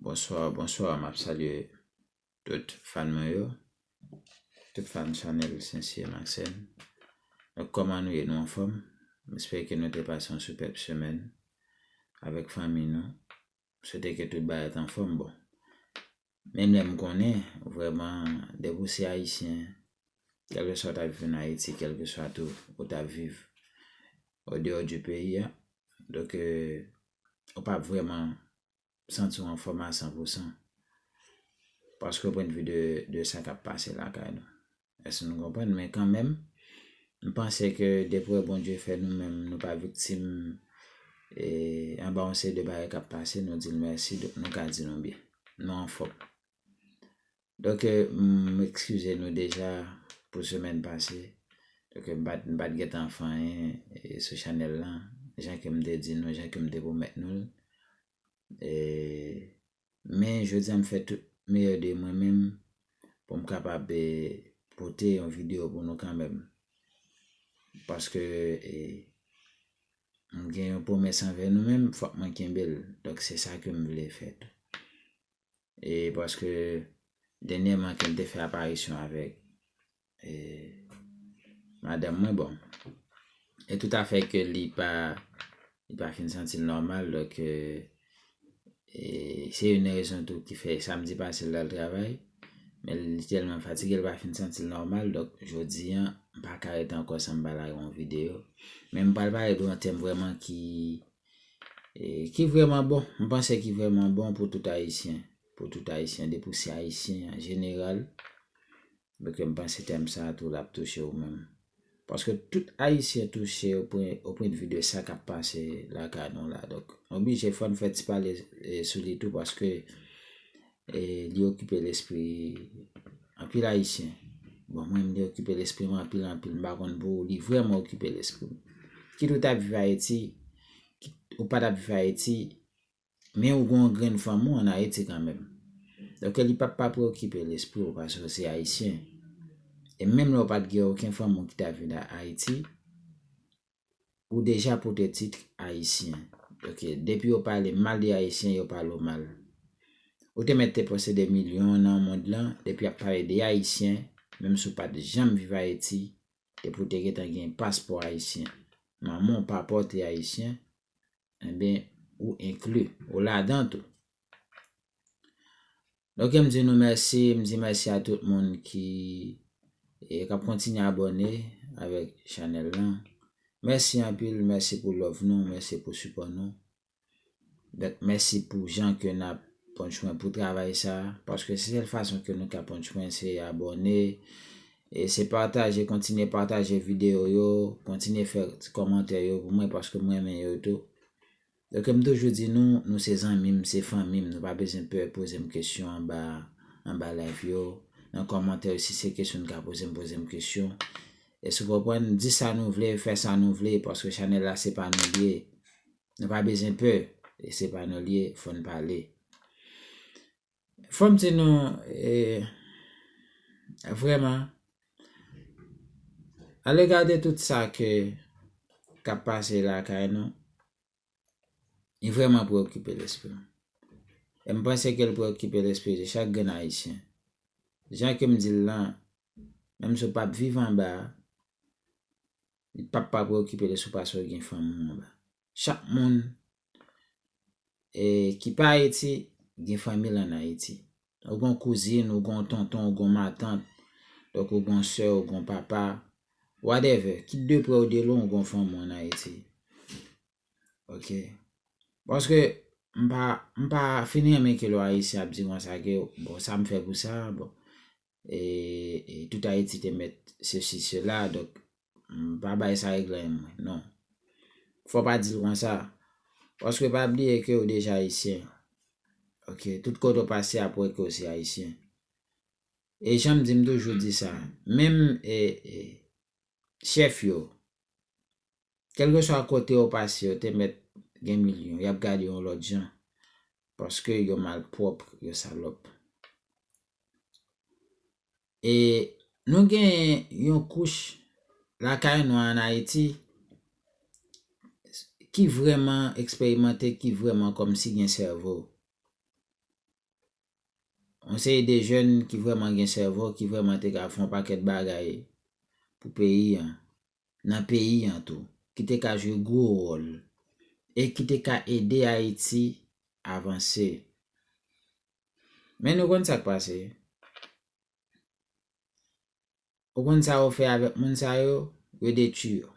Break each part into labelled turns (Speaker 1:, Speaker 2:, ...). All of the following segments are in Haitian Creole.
Speaker 1: Bonswa, bonswa, m ap salye tout fan mwen yo, tout fan chanèl Sensye Maksèn. Donk kòman nou ye? Nou anfòm? M espere ke nou te pase yon sipèb semèn avèk fanmi nou. M swete ke tout bagay t anfòm. Bon, Menm lè m konnen, vrèman, dèk ou se Ayisyen, kèlkeswa w ta viv ann Ayiti, kèlkeswa tou ou ta viv o deyò di peyi a, donk ou pa p vrèman santi w anfòm a san pou san, paske o pwennvi de sa k ap pase lakay nou. Èske nou konprann? Men kanmenm, m panse ke depre Bondye fè nou menm nou pa viktim anba yon seri de bagay k ap pase, nou di l mèsi, donk nou ka di nou byen. Nou anfòm. Donk, m ekskize nou deja pou semèn pase, donk m pa t gen tan fè anyen sou chanèl lan, jan ke m te di nou, jan ke m te pwomèt nou l. Men jodi a m fè tout meyè de mwen menm pou m kapab pote yon videyo pou nou kanmenm. Paske m gen yon pwomès anvè nou menm fòk mwen kenbe l. Donk se sa ke m vle fè tou. E paske dènyèman ke m te fè aparisyon avèk E madanm mwen bon. E tout afè ke li pa li pa fin santi l nòmal dòk e se youn nan rezon tou ki fè samdi pase l t al travay men li tèlman fatige l pa fin santi l nòmal dòk jodi an m pa ka ret ankò san m pa lage yon videyo. Men m pral pale de yon tèm vrèman ki e ki vrèman bon. M panse ki vrèman bon pou tout ayisyen pou tout ayisyen depi w se ayisyen an jeneral Ok m panse tèm sa tou lap touche ou menm. Paske tout ayisyen touche o pwen de vi de sa kap pase lakay nou la. Donk m oblije fòn fè ti pale sou li tou paske li okipe lespri anpil ayisyen. Bon mwen menm li okipe lespri m anpil anpil m pa konn pou ou li vrèman okipe lespri m. Kit ou tap viv ayiti kit ou pa tap viv ayiti. Men ou gen yon grenn fanmi w an Ayiti kanmenm. Donk ke li pa pa preyokipe lespri w paske w se Ayisyen. E menm lè w pa t gen oken fanmi w ki ta vin Ayiti, ou deja pote tit Ayisyen. Ok, depi yo pale mal de Ayisyen, yo pale w mal. Ou te mèt te panse de milyon nan mond lan, depi y ap pale de Ayisyen, menm si w pa t janm viv Ayiti, depi w te gentan gen paspò Ayisyen, manman w, papa w te Ayisyen, Enben, ou enkli, ou ladan tou. Ok, m di nou mèsi, m di mèsi a tout moun ki k ap kontinye abòne avèk chanèl lan. Mèsi anpil, mèsi pou love nou, mèsi pou sipò nou. Donk, mèsi pou jan ke n ap pran swen pou travay sa a, paske se sèl fason ke nou ka pran swen se abòne, E se pataje kontinye pataje video yo, kontinye fè ti kòmantè yo pou mwen paske mwen renmen yo tou. Ok m toujou di nou, nou se zanmi m, se fanmi m, nou pa bezwen pè poze m kesyon anba anba live yo, nan kòmantè yo si se kesyon n ka poze m poze m kesyon. Èske w konprann? Di sa nou vle, fè sa nou vle paske chanèl la se pa nou l ye. Nou pa bezwen pè, se pa nou l ye, fò n pale. Fò m di nou, vrèman, alega de tout sa ke k ap pase lakay nou, li vrèman preyokipe lespri m. E m panse ke li preyokipe lespri de chak grenn Ayisyen. Jan ke m di l lan, menm si w pa p viv anba a, li p ap pa preyokipe l si w pa sou gen fanmi w anba a. chak moun ki pa Ayiti gen fanmi l an Ayiti. Ou gon kouzin, ou gon tonton, ou gon matant, donk ou gon sè, ou gon papa, whatever, kit de prè ou de lwen ou gon fanmi w an Ayiti. Ok. Paske m pa fin renmen ke lè w Ayisyen ap di konsa ke bon sa m fè pou sa, bon. e tout Ayiti te mèt sesi sela, donk m pa bay sa regle m mwen, non. Fò pa di l konsa, paske pa bliye ke ou deja Ayisyen, ok, tout kote ou pase y ap wè ke ou se Ayisyen. E jan m di m toujou di sa, menm chèf yo, Kèlkeswa kote yo pase yo te mèt gen milyon yap gade yon lòt jan paske yo malpwòp yo salòp. E nou gen yon kouch lakay nou an Ayiti ki vrèman eksperimante ki vrèman kòmsi gen sèvo. Yon seri de jèn ki vrèman gen sèvo ki vrèman te ka fè yon pakèt bagay pou peyi an. nan peyi an tou ki te ka jwe gwo wòl e ki te ka ede Ayiti avanse. Men nou konn sa k pase? Ou konn sa yo fè avèk moun sa yo? Yo detui yo.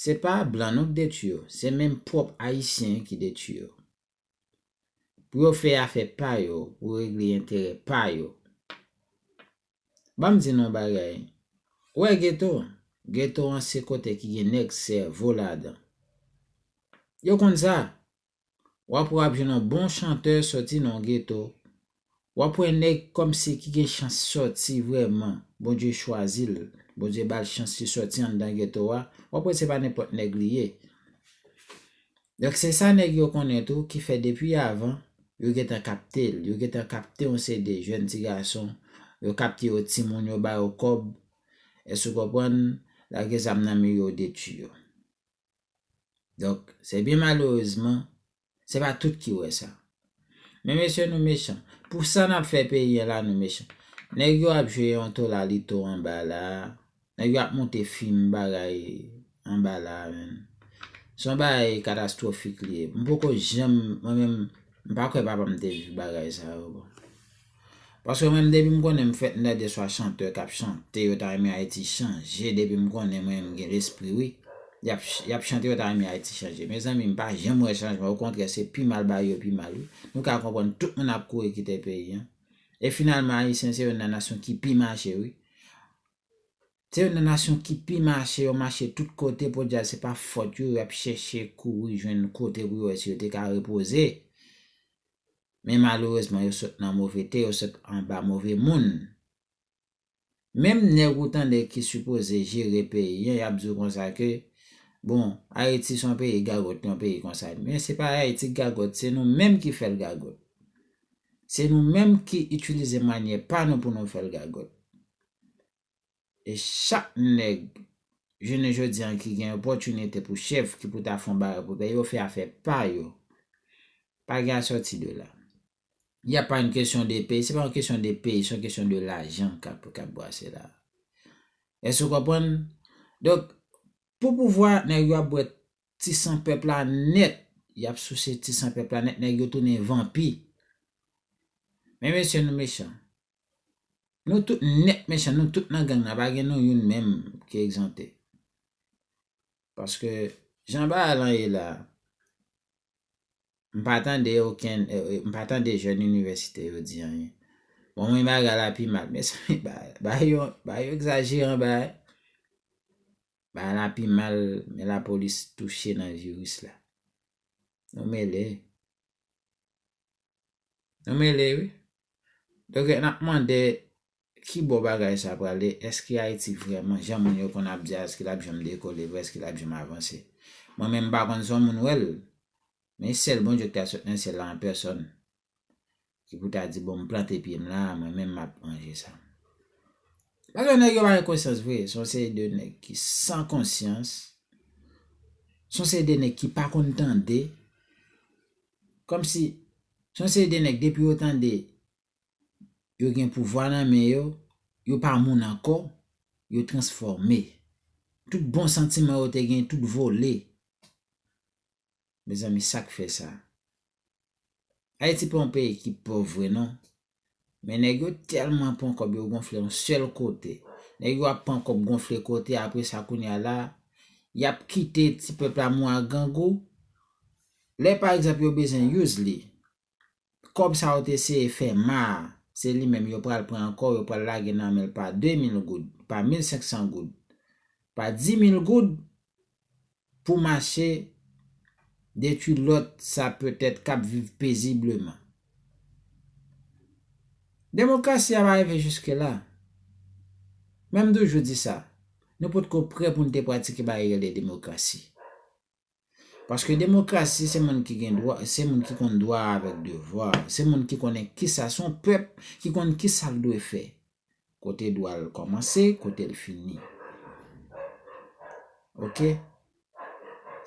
Speaker 1: Se pa blan non k detui yo, se menm pwòp Ayisyen ki detui yo. Pou yo fè afè pa yo, pou regle enterè pa yo. Banm di nou yon bagay, ou wè geto, geto an se kote ki gen nèg sèvo ladan. Yo konn sa. Wap wè wap jwenn yon bon chanteur soti nan yon geto, Wap wè nèg kòmsi ki gen chans sòti vrèman, Bondye chwazi l, Bondye ba l chans li sòti anndan geto a, wap wè se pa nenpòt nèg li ye. Donk se sa nèg yo konnen tou ki fè depi avan yo gentan kapte l, yo gentan kapte yon seri de jèn ti gason, yo kapte yo timoun yo ba yo kòb, èske ou konprann, lage zam nan men yo detui yo. Donk se byen malerezman Se pa tout ki wè sa. Men mesye nou mechan. Pou sa nap fè peyi an la nou mechan. Nèg yo ap jwe yon tolalito anba la. Nèg yo ap monte fim bagay anba la menn. Se yon bagay katastrofik li ye. M poko janm mwen menm m pa kwè papa m te viv bagay sa yo bon. Paske mwen menm depim konnen m fèt m ta di eswa chanteur kap chante yo ta renmen ayiti chanje depim konnen mwen menm m gen lespri wi yap chante yo ta renmen ayiti chanje mezanmi m pa janm wè chanjman okontrè se pi mal bagay yo pi mal wi nou ka konprann tout moun ap kouri kite peyi an e finalman ayisyen se youn nan nasyon ki pi mache wi se youn nan nasyon ki pi mache yo mache tout kote podyab se pa fòt yo yap chèche kouri jwenn kote pou yo wè si yo te ka repoze. men malerezman yo sot nan move te yo sot anba move moun menm nèg ou tande ki sipoze jere peyi an yap di w konsa ke bon ayiti son peyi gagot yon peyi konsa men se pa ayiti ki gagot se nou menm ki fèl gagot se nou menm ki itilize manyè pa nou pou nou fèl gagot e chak nèg jounen jodi an ki gen opòtinite pou chèf ki pou ta fon bagay pou peyi yo fè afè pa yo pa gen asòti de la y a pa yn kesyon de peyi se pa yon kesyon de peyi se yon kesyon de lajan kap kap brase la èske ou konprann donk pou pouvwa nèg yo ap bwè ti san pèp la nèt y ap souse ti san pèp la nèt nèg yo tounen vanpi men mesye nou mechan. Nou tout nèt mechan, nou tout nan gang nan, pa gen nou youn menm ki egzante. Paske, jan bagay lan ye la, m pa tande okenn, m pa tande jèn inivèsite yo di anyen. Bon mwen bagay la pi mal, mezanmi bagay yo, bagay yo egzajeran bagay. Bagay la pi mal, men lapolis touche nan viris la. Nou mele. Nou mele wi. Donk nap mande ki bò bagay sa prale, eske Ayiti vrèman jan moun yo konn ap di a eske lap janm dekole vre, eske lap janm avanse. Mwen menm m pa konn si yon moun wè l, men sèl Bondye ki ta sot nan syèl la an pèsòn ki pou ta di bon m plante pye m la a mwen menm map manje sa m. Paske nèg yo pa gen konsyans vre, son seri de nèg ki san konsyans, son seri de nèg ki pa konn tande, Kòmsi se yon seri de nèg depi yo tande yo gen pouvwa nan men yo, yo pa moun ankò, yo transfòme. Tout bon santiman yo te gen tout vole. Mezanmi sak fè sa? Ayiti pa yon peyi ki pòv vre non. Men nèg yo tèlman pran kòb yo gonfle yon sèl kote. Nèg yo ap pran kòb gonfle kote apre sa kounye a la y ap kite ti pèp la mou ak grangou. Lè pa egzanp yo bezwen Yously, kòb sa yo te eseye fè ma a, se li menm yo pral pran ankò, yo pral lage nan men l pa 2000 goud, pa 1500 goud, pa 10000 goud pou mache detwi lòt sa petèt k ap viv pezibleman. Demokrasi a pa rive jiskela. Men m toujou di sa, nou potko prè pou n te pratike bagay ki rele demokrasi. Paske demokrasi se moun ki gen dwa, se moun ki konn dwa avèk devwa, se moun ki konnen kisa, se yon pèp ki konn kisa l dwe fè. Kote dwa l kòmanse, kote l fini. Ok.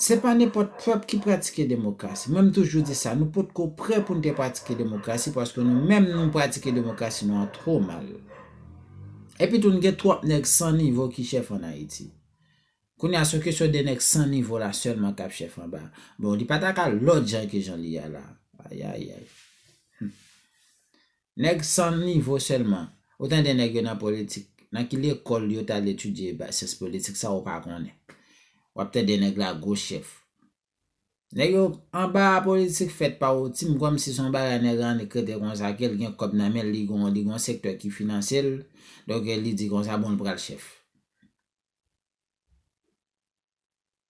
Speaker 1: Se pa nenpòt pèp ki pratike demokrasi. Mwen m toujou di sa, nou pot ko prè pou n te pratike demokrasi paske nou menm nou pratike demokrasi nou an twò mal. Epitou n gen twòp nèg san nivo ki chèf an Ayiti. Kounye a se yon kesyon de nèg san nivo la sèlman k ap chèf anba. Bon, li pa ta ka lòt jan ke jan li ye a la. Ayayay. Nèg san nivo sèlman. Ou tande nèg yo nan politik. Nan ki lekòl yo t al etidye syans politik sa ou pa konnen. W ap tande nèg la gwo chèf. Nèg yo anba a politik fèt pa ou Tim kòmsi se yon bagay nèg la annik rete konsa ke l gen kòb nan men l li gon li gon sektè ki finanse l donk li di konsa bon l pral chèf.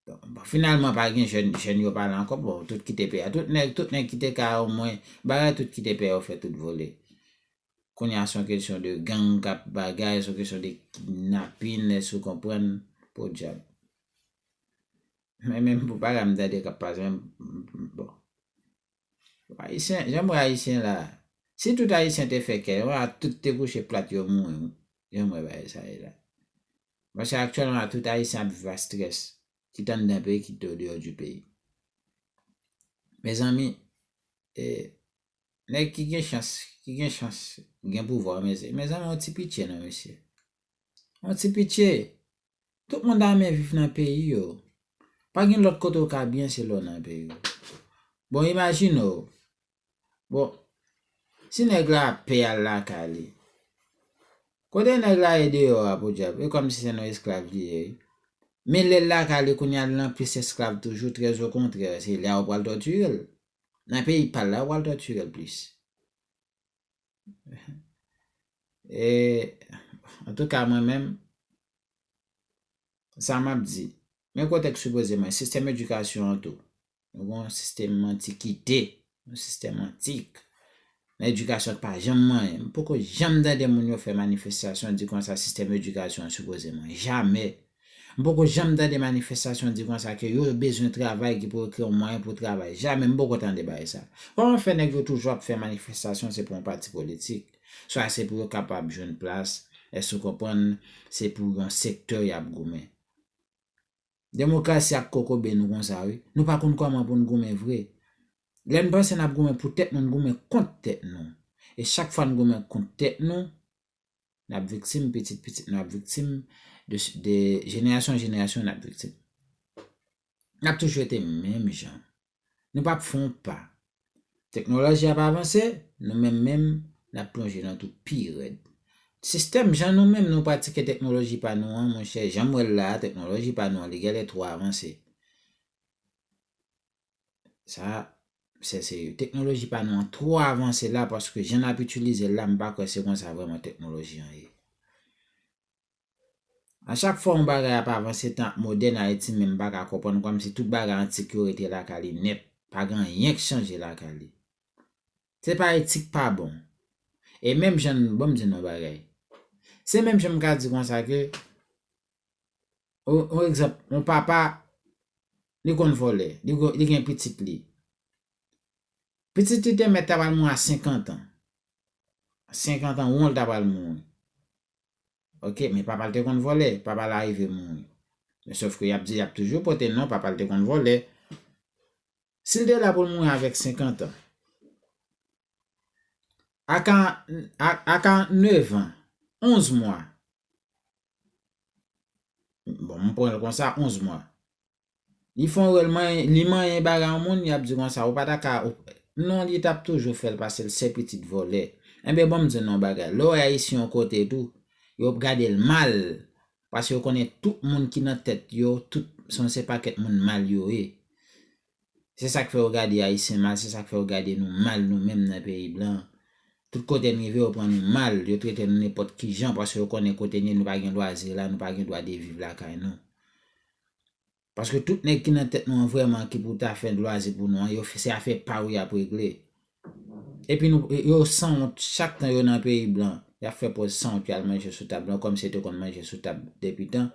Speaker 1: Bon, finalman pa gen jèn, jèn yo pa la ankò, bon, tout kite peyi a. Tout nèg, tout nèg kite kay a omwen, bagay tout kite peyi a yo fè tout vole. Kounye a son kesyon de gang k ap bagay, son kesyon de kidnapin, èske ou konprann? Podyab. Mwen menm pou bagay m tande k ap pase, bon. Ayisyen, janm wè ayisyen la. Si tout ayisyen te fè kè yo a tout te kouche plat yo mouri wi. Janm wè bagay sa ye la. Paske aktyèlman la tout ayisyen ap viv a strès. Kit anndan peyi kit o deyò di peyi. Mezanmi e nèg ki gen chans, ki gen chans gen pouvwa mezanmi yon ti pitye non mesye. Yon ti pitye. Tout moun ta renmen viv nan peyi yo. Pa gen lòt kote ou ka byen se lè w nan peyi w. Bon imajine w, bon, si nèg la ap pè al lakay li, kote nèg la ye deyò a podyab? E kòmsi se nan esklav li ye wi. Men lè l lakay li kounye a li nan plis esklav toujou trèzokontrè se lè a ou pral tòtire l. Nan peyi pa l la ou pral tòtire l plis. E an tou ka mwen menm sa m ap di men kote k sipoze mwen sistèm edikasyon an tou nou gen yon sistèm antikite yon sistèm antik nan edikasyon k pa janm manyen m poko janm tande moun yo fè manifestasyon di konsa sistèm edikasyon an sipoze mwen jamè M poko janm tande manifestasyon di konsa ke yo bezwen travay ki pou yo kreye yon mwayen pou travay. Jamè, m poko tande bagay sa. Kòman fè nèg yo toujou ap fè manifestasyon se pou yon pati politik? Swa se pou yo kapab jwenn plas, èske ou konprann, se pou yon sektè y ap goumen. Demokrasi ap kokobe nou konsa wi. Nou pa konn kòman pou n goumen vre. Lè n panse n ap goumen pou tèt nou, n goumen kont tèt nou. E chak fwa n goumen kont tèt nou, n ap viktim, pitit pitit nou ap viktim, de jenerasyon an jenerasyon n ap viktim. N ap toujou rete menm jan. Nou pap fè yon pa. Teknoloji ap avanse, nou menm menm n ap plonje nan twou pi rèd. Sistèm jan nou menm nou pratike teknoloji pa nou an, monchè, jan m wè l la a, teknoloji pa nou an li gèlè twò avanse. Sa a, se serye. Teknoloji pa nou an twò avanse la paske jan n ap itilize l la m pa kwè se konsa vrèman teknoloji an ye. A chak fwa yon bagay ap avanse tan ap modèn Ayiti menm pa ka konprann kòmsi tout bagay antik yo rete lakay li nèt, pa gen anyen k chanje lakay li. Se pa etik pa bon. E menm jan n, bon m di nou yon bagay. Se menm jan m ka di konsa ke On egzanp, on papa li konn vòlè, li gen pitit li. Pitit li te mèt ta pral mouri a 50 an. 50 an won li ta pral mouri. Ok, men papa li te konn vòlè, papa li arive mouri. Men sof ke y ap di y ap toujou pote non papa li te konn vòlè. Si li te la pou l mouri avèk 50 an, a 49 an, 11 mwa, Bon, m pran l konsa, 11 mwa. Li fon wè l manyen, li manyen bagay yon moun, li ap di konsa, ou pa ta ka, non li t ap toujou fè l pase l se pitit vòlè. Enben ban m di nou yon bagay, lè w wè Ayisyen yon kote tou, yo ap gade l mal, paske yo konnen tout moun ki nan tèt yo, tout, son se pakèt moun mal yo ye. Se sak fè yo gade ayisyen mal se sak fè yo gade nou mal nou menm nan peyi blan an. Tout kote n rive yo pran nou mal, yo trete nou nenpòt ki jan paske yo konnen kote n ye nou pa gen lwazi la, nou pa gen dwa de viv lakay nou. Paske tout nèg ki nan tèt nou an vrèman ki pou ta fè lwazi pou nou an yo se afè pa yo y ap regle. Epi nou yo sanwont chak tan yo nan peyi blan yap fè pòz sanwont yal manje sou tab blan kòm si yo te konn manje sou tab depi tan.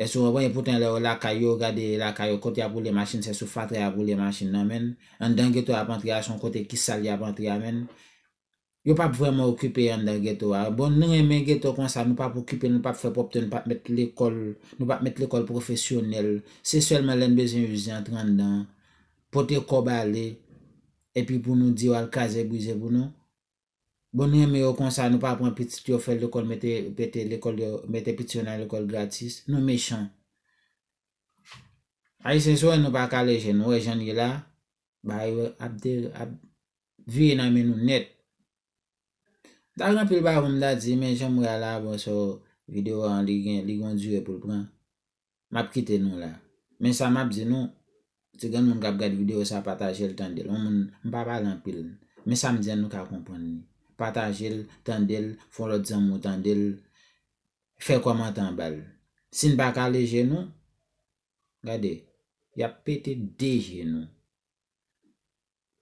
Speaker 1: Èske ou konprann epoutan lè yo lakay yo gade lakay yo kot yap woule machin se sou fatra yap woule machin nan menn. Anndan geto yap antre a son kote ki sal yap antre a menn. Yo pap vrèman okipe anndan geto a. Bon nou renmen geto konsa nou pap okipe l nou pap fè pwòpte nou pap mèt lekòl nou pap mèt lekòl pwofesyonèl se sèlman lèn bezyen uze antre anndan pote kob ale epi pou nou diw al kraze brize pou nou bon nou renmen yo konsa nou pa pran pitit yo fè lekol mete mete lekol yo mete pitit yo nan lekol gratis nou mechan ayisyen sou wè nou pa kale je nou wè jann ye la bagay yo ap de ap vire nan men nou nèt mta gen anpil bagay poum ta di men janm wè a la bon so video an li gen li gon dire poul pran M ap kite nou la. Men sa m ap di nou, si gen moun k ap gad videyo sa a, pataje l, tande l. On moun, m pa pale anpil. Men sa m di an nou ka konprann li. Pataje l, tande l, fè yon lòt zanmi w tande l, fè kòmantè anba l. Si n pa kale je nou, gade, y ap pete de je nou.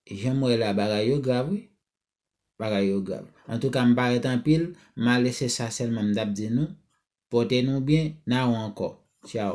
Speaker 1: Jan m wè la, bagay yo grav wi. Bagay yo grav. Antouka m parèt anpil, m ale se sa sèlman m t ap di nou. Pòte nou byen, n a ou ankò. Tchao.